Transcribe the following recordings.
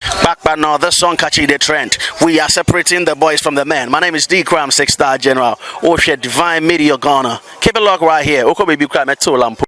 Bakpa no this song catching the trend we are separating the boys from the men my name is D Cram six star general wohwɛ oh, divine media Ghana keep it locked right here wokɔ baabi kora mɛtew lampo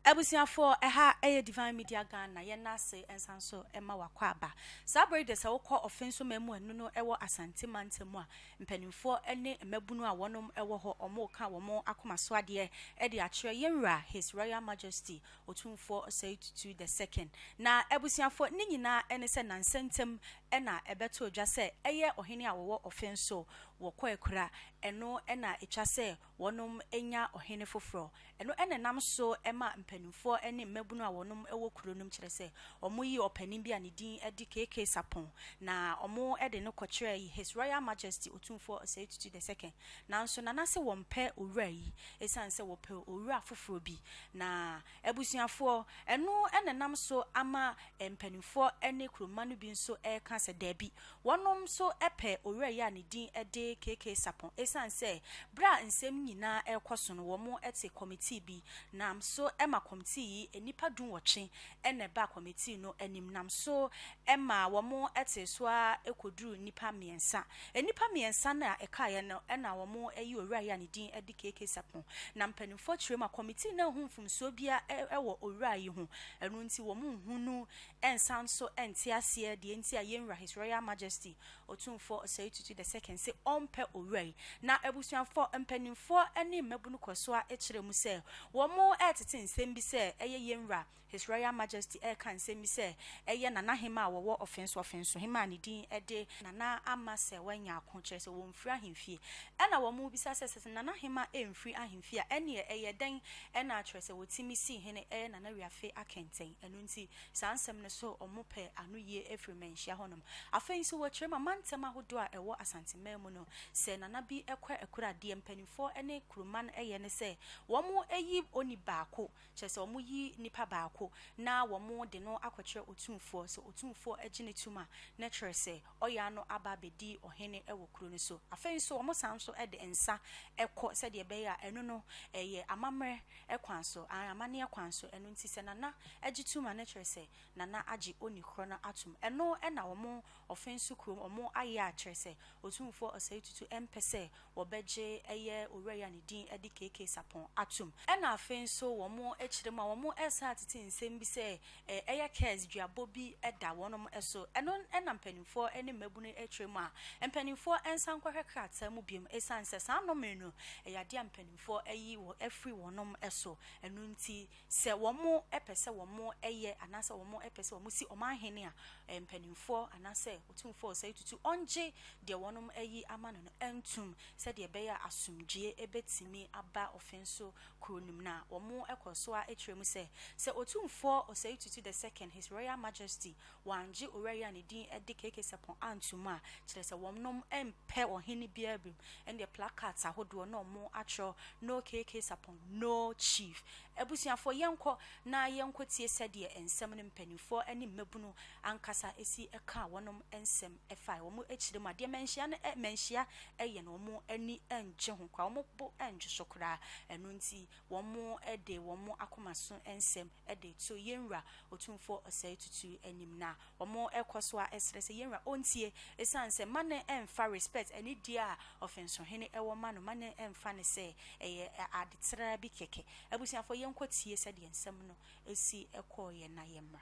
abusuafoɔ ɛha ɛyɛ divine media ghana yɛn ase nsa nso ɛma wakɔ aba saa bere de sɛ wokɔ ɔfɛn so mɛmu ɛno no ɛwɔ asante mantam a Mpanimfoɔ ne mmabunu a wɔnom wɔ hɔ, wɔreka wɔn akoma so adeɛ de akyerɛ yɛn Wura His Royal Majesty Otumfoɔ Osei Tutu the Second. Na abusuafoɔ ne nyinaa ne sɛ nansa ntam na ɛbɛtoo dwa sɛ ɛyɛ ɔhene a wɔwɔ ɔfenso wɔ Kwaakura, ɛno na ɛtwa sɛ wɔnom nya ɔhene foforɔ. Ɛno na ɛnam so ma mpaninfoɔ ne mmabunu a wɔnom wɔ kuro nom kyerɛ sɛ wɔn yi ɔpanin bi a ne din de KK Sarpong na wɔn de no kɔkyerɛ His Royal Majesty Otumfoɔ Osei Tutu the Second. Nanso Nana se wɔmpɛ owura yi ɛsiane sɛ wɔpɛ owura foforɔ bi na Abusuafoɔ, ɛno na ɛnam so ama mpanimfoɔ ne kuromma no bi nso reka sɛ daabi, wɔnom nso pɛ owura yi a ne din de KK Sarpong ɛsiane sɛ berɛ a nsɛm yi nyinaa rekɔ so no wɔn te kɔmitii bi nam so ma kɔmitii yi nnipa dunwɔtwe na ɛba kɔmitii no anim nam so ɛmaa wɔtee so ara kɔduruu nnipa mmiɛnsa. Nnipa mmiɛnsa no a ɛkaeɛ no na wɔayi owura yi a ne din de KK Sarpong. Na mpanimfoɔ kyerɛɛ mu a, kɔmitii no anhu mfomsoɔ biara wɔ owura yi ho, ɛno nti wɔnhu no nsan nso nte aseɛ deɛ nti a yɛn wura His Royal Majesty Otumfoɔ Osei Tutu the Second se ɔmpɛ owura yi. Na abusuafoɔ, mpanimfoɔ ne mmabunu kɔɔ so ara kyerɛɛ mu sɛ wɔretete nsɛm bi sɛ ɛyɛ yɛn wura His Royal Majesty reka nsɛm yi sɛ ɛyɛ Nanahemmaa a wɔwɔ Ɔfenso-Ɔfensohemmaa a ne din de Nana Ama sɛ wɔanya ako, kyerɛ sɛ wɔmfiri ahemfie. Ɛnna wɔbisa sɛ, Sɛ Nanahemmaa mfiri ahemfie a, ɛnneɛ ɛyɛ dɛn na akyerɛ sɛ wɔtumi sii hene yɛ Nana Wiafe Akɛntɛn? Ɛno nti, saa nsɛm no so wɔpɛ anoyie firi mmanhyia hɔnom. Afei nso, wɔkyerɛm amantam ahodoɔ a ɛwɔ Asanteman mu no, sɛ Nana bi kɔ ɛkuro a, deɛ mpanimfoɔ ne kuroman yɛ ne sɛ wɔyi oni baako Kyerɛ sɛ, wɔyi nipa baako na wɔde no akɔkyerɛ otumfoɔ. Sɛ otumfoɔ gye no tom a, na ɛkyerɛ sɛ, ɔyɛ ara no aba abɛdi ɔhene wɔ kuro no so. Afei nso, wɔsan nso de nsa kɔ sɛdeɛ ɛbɛyɛ a, ɛno no, ɛyɛ amammerɛ kwan so, aane, amanneɛ kwan so. Ɛno nti, sɛ Nana gye tom a, na ɛkyerɛ sɛ, Nana agye oni korɔ no atom. Ɛno na wɔn ɔfenso kurom, wɔn ayɛ a kyerɛ sɛ, otumfoɔ Ɔsɛetutu mpɛ sɛ wɔbɛgye ɛyɛ owura yi a ne din de KK Sarpong atom. Ɛna afei nso wɔkyerɛ mu a wɔsan atete nsɛm bi sɛ ɛyɛ curse, duabɔ bi da wɔnom so. Ɛno na mpaninfoɔ ne mmabunu kyerɛ mu a mpaninfoɔ nsan kɔhwɛ krataa mu biom ɛsiane sɛ saa nnome no ɛyɛ adeɛ a mpaninfoɔ ayi afiri wɔnom so ɛno nti. Sɛ wɔpɛ sɛ wɔyɛ anaasɛ wɔpɛ sɛ wɔsi wɔn ahene a, ɛyɛ mpanimfoɔ anaasɛ otumfoɔ a ɔsɛ tutu ɔngye deɛ wɔayi ama no no ntum sɛdeɛ ɛbɛyɛ a asomdwoeɛ bɛtumi aba ɔfen so kuro no mu. Na wɔkɔ so ara kyerɛ mu sɛ, sɛ Otumfoɔ Osei Tutu the Second, His Royal Majesty wɔanngye Owura yi a ne din de KK Sarpong annto mu a, kyerɛ sɛ wɔnom mmpɛ ɔhene no biara biom, ɛndeɛ placards ahodoɔ na wɔn atwerɛ No KK Sarpong, No Chief. Abusuafoɔ, yɛnkɔ na yɛnkɔtie sɛdeɛ nsɛm no mpaninfoɔ ne mmabunu ankasa si kaa wɔnom nsɛm fae wɔn akyire mu a, deɛ manhyia no ɛ, manhyia yɛ no wɔn ani nngye ho koraa, wɔn bo nngye so koraa, ɛno nti, wɔde wɔn akoma so nsɛm de reto yɛn Wura Otumfoɔ Ɔsɛe Tutu anim, na wɔkɔ so ara srɛ sɛ yɛn Wura ɔntie, esiane sɛ mma no mmfa respect, anidie a Ɔfensohene wɔ ma no, mma no mmfa no sɛ ɛyɛ ade traa bi kɛkɛ. Abusuafoɔ, yɛnkɔtie sɛdeɛ nsɛm no si kɔeɛ na yɛmmra.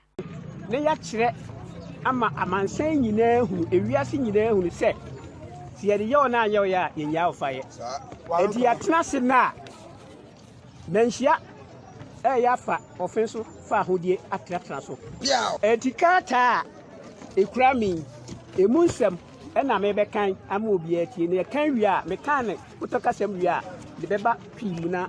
na yɛakyerɛ ama amansan nyinaa ahunu, ewiase nyinaa ahunu sɛ, sɛ yɛde yɛ wɔn a yɛ wɔn a yɛnyaa wɔn fa yɛ. Enti yɛatena ase nna a manhyia ɛyɛ afa ɔfe so fa ahodie atenatena so. Enti krataa a ekura me yi, emu nsɛm ɛna mebɛkan ama obiara atie, na yɛkan wie a, mekan ne kotɔkasɛm wie a, de bɛba pii mu na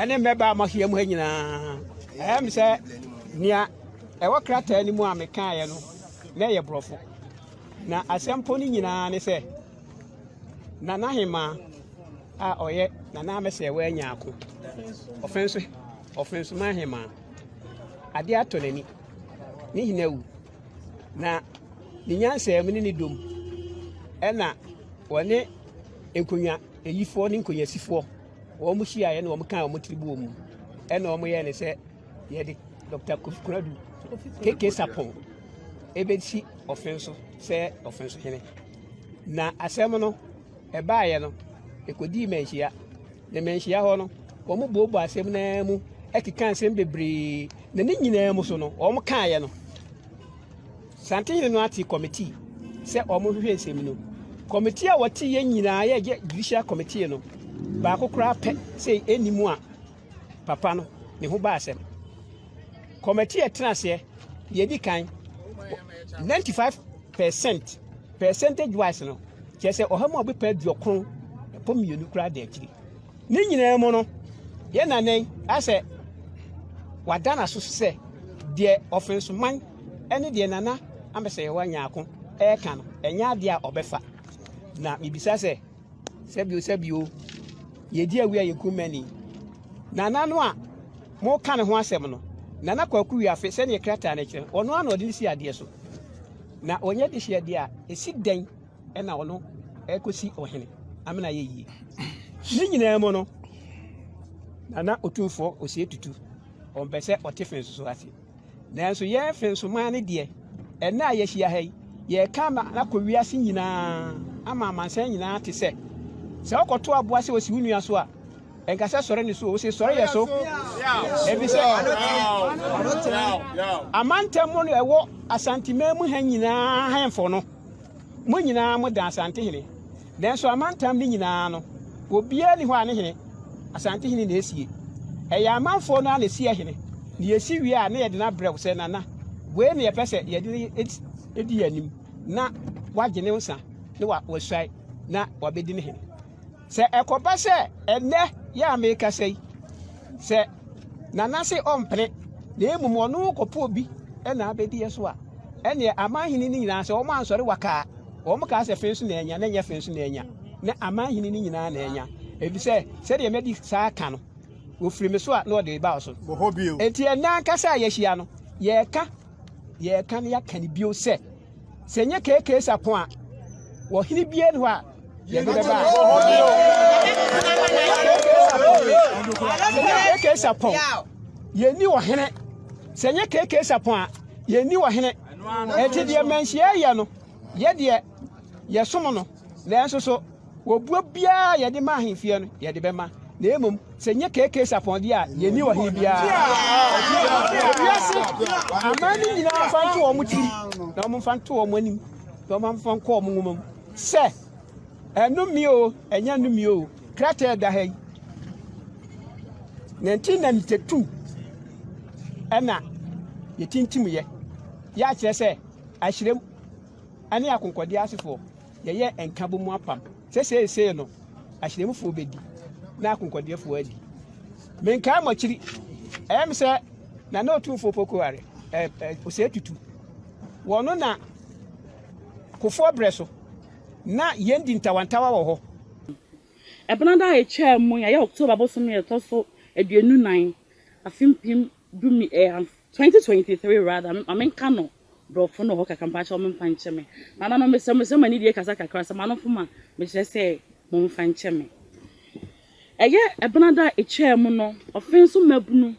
ɛne mmɛbaa a moahyia mu ha nyinaa. Ɛyɛ me sɛ nea ɛwɔ krataa no mu a mekaeɛ no na ɛyɛ borɔfo. Na asɛmpo no nyinaa ne sɛ Nana Hemaa a ɔyɛ Nana Amesɛɛ wanya ako. Ɔfenso ɔfensoman hemaa. Ade atɔ n'ani. Ne hena wu. Na ne nyansaa mu ne ne dom ɛna wɔne nkonnwa Ayifoɔ ne nkonyaasifoɔ, wɔn hyiaeɛ na wɔn kaa wɔn tiri bɔɔ mu. Ɛna wɔn yɛɛ ne sɛ yɛde Dr. Kofi Konadu KK Sapon ebesi ɔfen so sɛ ɔfen so hene. Na asɛm no ɛbaeɛ no ɛkɔdii manhyia ne manhyia hɔ no wɔn boobɔ asɛm naa mu ɛkeka nsɛm bebree na ne nyinaa mu so no wɔn kaeɛ no Santehene no ate kɔmitii sɛ wɔnhwehwɛ nsɛm no. Kɔmitii a wɔteeɛ nyinaa yɛ gye Judicial Committee no baako koraa pɛ sɛ ɛnni mu a papa no ne ho baa asɛm. Kɔmitii a ɛtena aseɛ deɛ ɛdi kan 95 percent percentage wise no kyerɛ sɛ ɔha mu a wɔbɛpɛ aduɔkron ɛpɔ mmienu koraa da akyiri. Ne nyinaa mu no, yɛn na nnɛ yi asɛ wada n'aso so sɛ deɛ ɔfensoman ne deɛ Nana Amasayɛwa Nyarko reka no, ɛnyɛ adeɛ a ɔbɛfa. Na mebisa sɛ, sɛbio sɛbio, yɛdi awi a yɛku mmani. Nana no a moka ne ho asɛm no, Nana Kwaku Wiafe, sɛdeɛ krataa no kyerɛ no, ɔno ara na ɔde no si adeɛ so. Na ɔnyɛ dehyeɛ deɛ a, ɛsi dɛn ɛna ɔno ɛkɔsi ɔhene amena yɛ yie ne nyinaa mu no nana otumfoɔ osie tutu ɔmpɛ sɛ ɔte fe nso so ase nanso yɛn fe nso maa ne deɛ ɛna a yɛahyia ha yi yɛka ama akɔ wiase nyinaa ama amansan nyinaa te sɛ sɛ wokɔto aboa sɛ osi wo nua so a ɛnka sɛ sɔre ne so o wosɛ sɔre yɛ so ɛfi sɛ amantam mu no ɛwɔ asanteman mu ha nyinaa hemfo no Mo nyinaa moda Asantehene, nanso amantam no nyinaa no, obiara nni hɔ a ne hene, Asantehene na esie. Ɛyɛ amanfoɔ no ara na esi ahene, na yɛsi wie a na yɛde no abrɛ wo sɛ, Nana, wei na yɛpɛ sɛ yɛde no di yɛn anim, na wagye ne nsa na wasuae na wabɛdi ne hene. Sɛ ɛkɔba sɛ ɛnnɛ yɛ a merekasa yi, sɛ Nana se ɔmpene na mmom ɔno rekɔpɛ obi na abɛdi yɛ so a, ɛnneɛ amanhene no nyinaa, sɛ wɔn ansɔre waka a, wɔn kaa sɛ fee so na anya, na ɛnyɛ fee so na anya, na amanhene no nyinaa na anya, efisɛ sɛdeɛ madi saa aka no, wɔfiri me so a na ɔde reba wo so. Enti ɛnnɛ ankasa a yɛahyia no, yɛreka, yɛreka na yɛaka no bio sɛ, Sɛ ɛnyɛ KK Sarpong a, ɔhene biara nni hɔ a yɛde bɛba a. Sɛ ɛnyɛ KK Sarpong, yɛnni ɔhene. Sɛ ɛnyɛ KK Sarpong a, yɛnni ɔhene. Ɛte deɛ manhyia yɛ no, yɛ deɛ yɛsom no. Nanso so obuo biara a yɛde ma ahemfie no, yɛde bɛma, na mmom sɛ nyɛ KK's apɔnde a, yenni ɔhene biara. Wiase aman no nyinaa mfa nto wɔn tirim, na wɔmfa nto wɔn anim, na wɔmfa nkɔ wɔn nwoma mu sɛ, Ɛnome o, ɛnyɛ nnome o, krataa ɛda ha yi. Na nti na ntetu ɛna yɛtintim yɛ, yɛakyerɛ sɛ ahyerɛm. ne akonkɔdeɛ asefoɔ, yɛyɛ nkabom apam, sɛ seesei no ahyerɛmufoɔ bɛdi na akonkɔdeɛfoɔ adi. Menkae mo akyiri, ɛyɛ me sɛ na na Otumfoɔ Poko are, eh, eh, Osei Tutu. Wɔno na kofoɔ berɛ so, na yɛn di ntawantawa wɔ hɔ. Ɛbena da a ɛtwaa mu yi, ɛyɛ October bosome a ɛtɔ so aduonu nan, afe mpem du mmi, eh, 2023 rather, ma menka no, Brɔfo no wɔ hɔ kakra, mpakyɛw momfa nkyɛ me. Nananom, mesrɛ mo sɛ mo anidie kasa kakra, sɛ mo ano fom a, mekyerɛ sɛ momfa nkyɛ me. Ɛyɛ ɛbenada a ɛtwaa mu no, ɔfen so mmabunu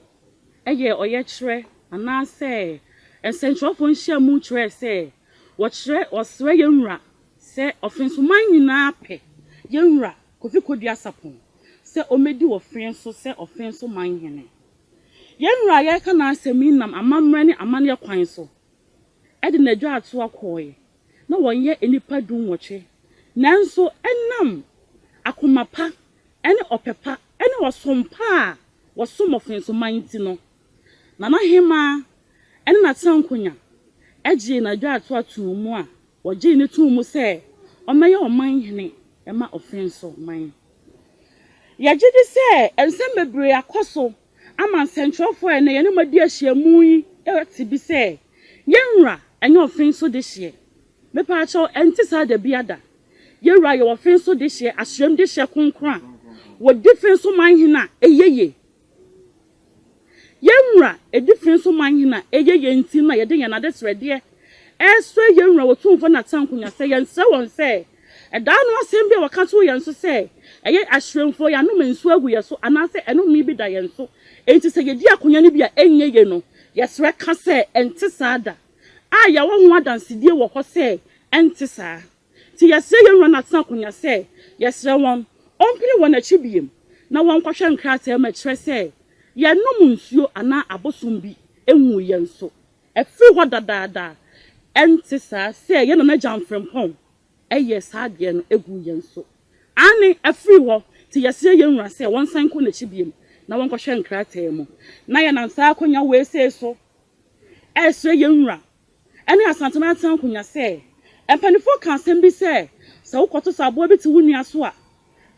yɛɛ ɔyɛkyerɛ anaasɛ nsɛnkyerɛwfo nhyiamu kyerɛɛ sɛ wɔkyerɛ wɔsrɛ yɛn wura sɛ ɔfen so man nyinaa pɛ yɛn wura Kofi Kodua Sapon sɛ ɔmmɛdi ɔfen so sɛ ɔfen so man hene. Yɛn Wura a yɛreka n'asɛm yi nam amammerɛ ne amanneɛ kwan so de n'adwatoa kɔɔe, na wɔnyɛ nnipa dunwɔtwe, nanso ɛnam akoma pa ne ɔpɛ pa ne ɔsom pa a wɔsom wɔ Fenso man nti no, na n'ahemaa ne n'atenankonya gyee n'adwatoa too mu a wɔgyee no too mu sɛ ɔmmɛyɛ ɔman hene mma Ofenso man. Yɛgye di sɛ nsɛm bebree akɔ so ama nsɛnkyerɛwfo a ɛnnɛ yɛne wɔn adi ahyiam yi ate bi sɛ, Yɛn Wura nyɛ ɔfen so dehyeɛ. Mepɛ akyerɛ wo, ɛnte saa da biada. Yɛn Wura yɛ ɔfen so dehyeɛ, ahyiam dehyeɛ kronkron a wɔdi fen so ma ahene a ɛyɛ yie Yɛn Wura adi fee nso man he na eye yɛn nti na yɛde yɛn adesrɛdeɛ resrɛ yɛn Wura Otumfoɔ ne Atanko Nya sɛ yɛnsrɛ wɔn sɛ ɛdaa no asɛm bi a wɔka too yɛn so sɛ ɛyɛ ahyerɛmfoɔ yɛn anoma nsuo agu yɛn so anaasɛ ɛnome bi da yɛn so enti sɛ yɛdi akonya no bi a ɛnyɛ ye no yɛsrɛ ka sɛ ɛnte saa da a yɛwɔ ho adansedie wɔ hɔ sɛ ɛnte saa. Nti yɛsrɛ yɛn Wura Nathan Akonya sɛ yɛsrɛ wɔn ɔmpene wɔn akyi biom na wɔnkɔhwɛ nkrataa mu a ɛkyerɛ sɛ yɛnnom nsuo anaa abosom bi nwuu yɛn so afiri hɔ dadaada a ɛnte saa sɛ yɛn Nana Gyan Frimpong yɛɛ saa adeɛ no guu yɛn so. Aane, afiri hɔ. Nti yɛsrɛ yɛn Wura sɛ wɔnsan nkɔ n'akyi biom na wɔnkɔhwɛ nkrataa mu. Na yɛnam saa akonya wei sei so ɛresrɛ yɛn Wura ne Asante Mantam Nkonwa sɛ, Mpaninfoɔ ka asɛm bi sɛ, sɛ wo kɔto sɛ aboa bi te wo nua so a,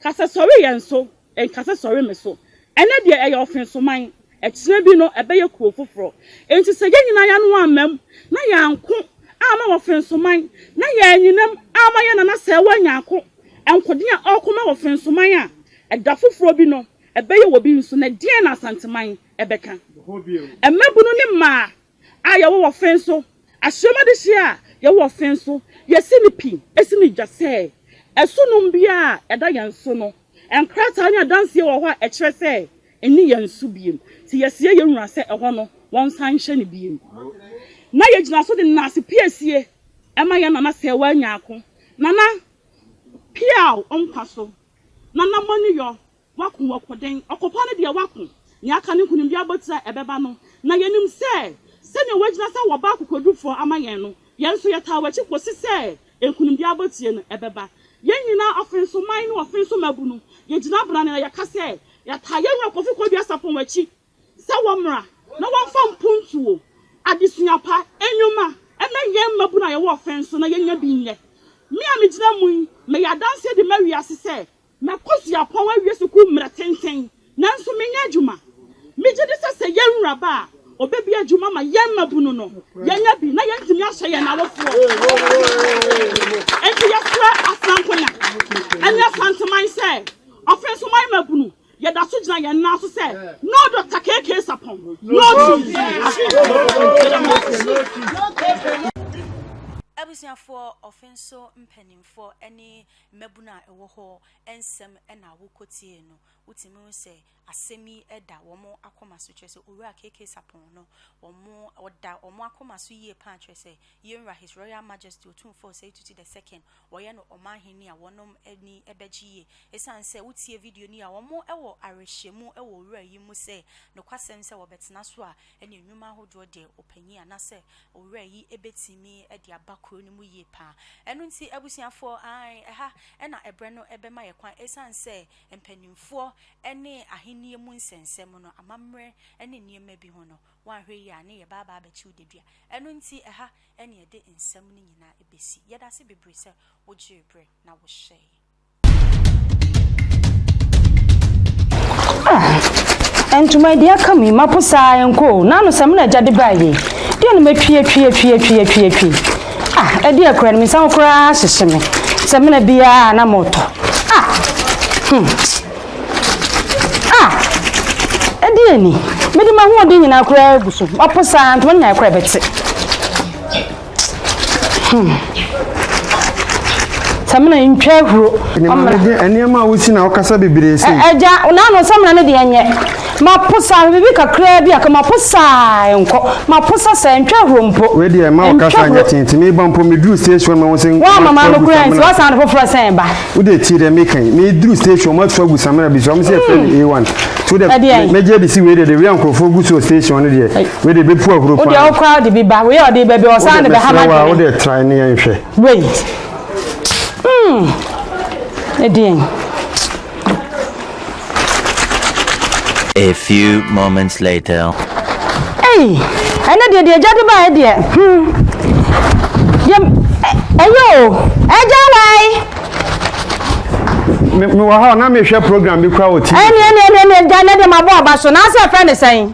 ka sɛ sɔre yɛn so, nka sɛ sɔre me so. Ɛnɛ deɛ ɛyɛ ɔfensoman, ɛkyena bi no ɛbɛyɛ kuro foforɔ. Enti sɛ yɛn nyinaa yɛano ammam na yɛanko amma ɔfensoman, na yɛanyinam amma yɛn nana sɛɛwa anya ako nkodeɛ a ɔreko ma ɔfensoman a, ɛda foforɔ bi no ɛbɛyɛ wɔ bi nso. Na deɛn na Asanteman ɛbɛka? Mmabunu ne mmaa a yɛwɔ wɔ fen so, ahyiam adehyeɛ a yɛwɔ wɔ fen so, yɛsi no pi, si no dwa sɛ ɛso nom biara a ɛda yɛn so no, nkrataa ne adanseɛ wɔ hɔ a ɛkyerɛ sɛ ɛnni yɛn so bio, nti yɛsrɛ yɛn wura sɛ ɛhɔ no wɔnsan nhyɛ no bio. Na yɛgyina so de Nnaase Piesie ma yɛn Nana Sɛɛwaa Nyaako, Nana, Piaw nkwa so, Nana Mɔneyɔ, Wako, wako dɛn? Ɔkopa no deɛ wako. Nea aka no nkonimdie abotire a ɛbɛba no. Na yɛnim sɛ, sɛdeɛ wagyina sɛ wɔba akokoɔdufoɔ ama yɛn no, yɛn nso yɛtaa w'akyi kɔsi sɛ nkonimdie abotire no ɛbɛba. Yɛn nyinaa, ɔfensoman ne ɔfenso mmabunu, yɛgyina brane na yɛka sɛ, yɛtaa yɛn wura Kofi Kodua Sarpong akyi sɛ wɔmmra na wɔmfa mpontuo, adesua pa, nnwuma, mma yɛn mmabunu a yɛwɔ ɔfenso na yɛnya bi nyɛ. Me a megyina mu yi, meyɛ adanseɛ de ma wiase sɛ, Makɔ suapɔn awie sukuu mmerɛ tenten, nanso mennya adwuma. Megye di sɛ sɛ yɛn wura ba a, ɔbɛbue adwuma ma yɛn mmabunu no, yɛanya bi na yɛatumi ahyɛ yɛn awofoɔ. Enti yɛsrɛ Asankonya ne Asanteman sɛ, Ɔfensoman mmabunu, yɛda so gyina yɛn nan so sɛ No Doctor KK Sapɔn, No Cheese. Abusuafoɔ, Ɔfenso mpanimfoɔ ne Mmabun a ɛwɔ hɔ nsɛm na wokotiei no, wotumi hu sɛ asɛm yi da wɔn akoma so, kyerɛ sɛ Owura KK Sarpong no, wɔn, ɔda wɔn akoma so yie paa, kyerɛ sɛ Yenwura His Royal Majesty Otumfoɔ Osei Tutu the Second, wɔyɛ no Ɔmanhene a wɔnom ani bɛgye yie. Esiane sɛ wotiee video no yie a, wɔn wɔ awerɛhyɛmu wɔ Owura yi mu sɛ nokwasɛm sɛ wɔbɛtena so a, ne nnwuma ahodoɔ deɛ ɔpanyin anaasɛ owura yi bɛtumi de aba kuro no mu yie pa ara. Ɛno nti abusuafoɔ, aane, ɛha na ɛberɛ no bɛma yɛn kwan ɛsiane sɛ mpanimfoɔ ne ahennie mu nsɛnsɛm no, amammerɛ ne nneɛma bi ho no, woanhwɛ yie a ne yɛba aba abɛkye wo dadua. Ɛno nti ɛha na yɛde nsɛm no nyinaa bɛsi. Yɛda ase bebree sɛ wogyee berɛ na wohwɛeɛ. Ah, ntoma adi aka mu yi mapo saa ɛnkɔ o na ano sɛ me na agya de baa yie deɛ no matwi atwi atwi atwi atwi atwi ah ɛde akora no me nsa ho koraa hyehye me sɛ mena biara na motɔ ah hmm ah ɛde ani mede m'ahoɔden nyinaa koraa agu so mapo saa ntoma no nyinaa koraa bɛte Hmm. Samina ntwa ahuro. Nneɛma a wosi na wokasa bebree sei. Agya, naano samina ne deɛ nyɛ. Mapo saa bibi kakraa bi aka mapo saa nkɔ. Mapo sa saa ntwa ahuro mpo. Wei deɛ ma wokasa nyɛ tente meba mpo meduru station ma wo sɛ nkɔ. Wa mama no kura nti wasan de foforɔ sɛn ba. Wode tie dɛ meka yi meduru station ma so agu samina bi so ɔmo sɛ ɛfɛ ne A1. So dɛ mɛgye de si wei deɛ de wia nkurɔfoɔ gu so station no deɛ. Wei de bɛfu ahuro paa. Wo deɛ wo koraa de bi ba. Wei a ɔde bɛbi ɔsan de bɛha ma dwene. Wo deɛ tran ne yɛn hwɛ. Wei. Hmm. Ɛdeɛn. A few moments later. Hey, ɛnɛ deɛ deɛ agya de baeɛ deɛ. Hmm. Deɛ ɛyɛ o. Agya wae. Me wɔ hɔ na mehwɛ program bi kura wɔ TV. Ɛne ɛne ɛne ɛne agya ne de ma bɔ aba so. Na asɛ fɛ ne sɛn.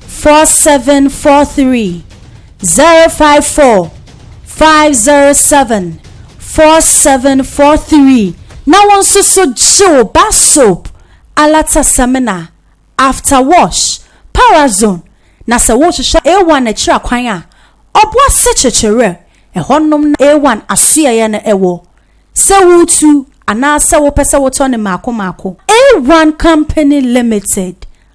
four seven four three zero five four five zero seven four seven four three na wɔn nso so gye wo ba soap alatasamina after wash parazone na sɛ wohwehwɛ a one akyiri akwan a ɔboa sekyekyere ɛhɔnom na a one asoɛeɛ no ɛwɔ sɛ wotu anaasɛ wopɛ sɛ wotɔ no mmaako mmaako a one company limited.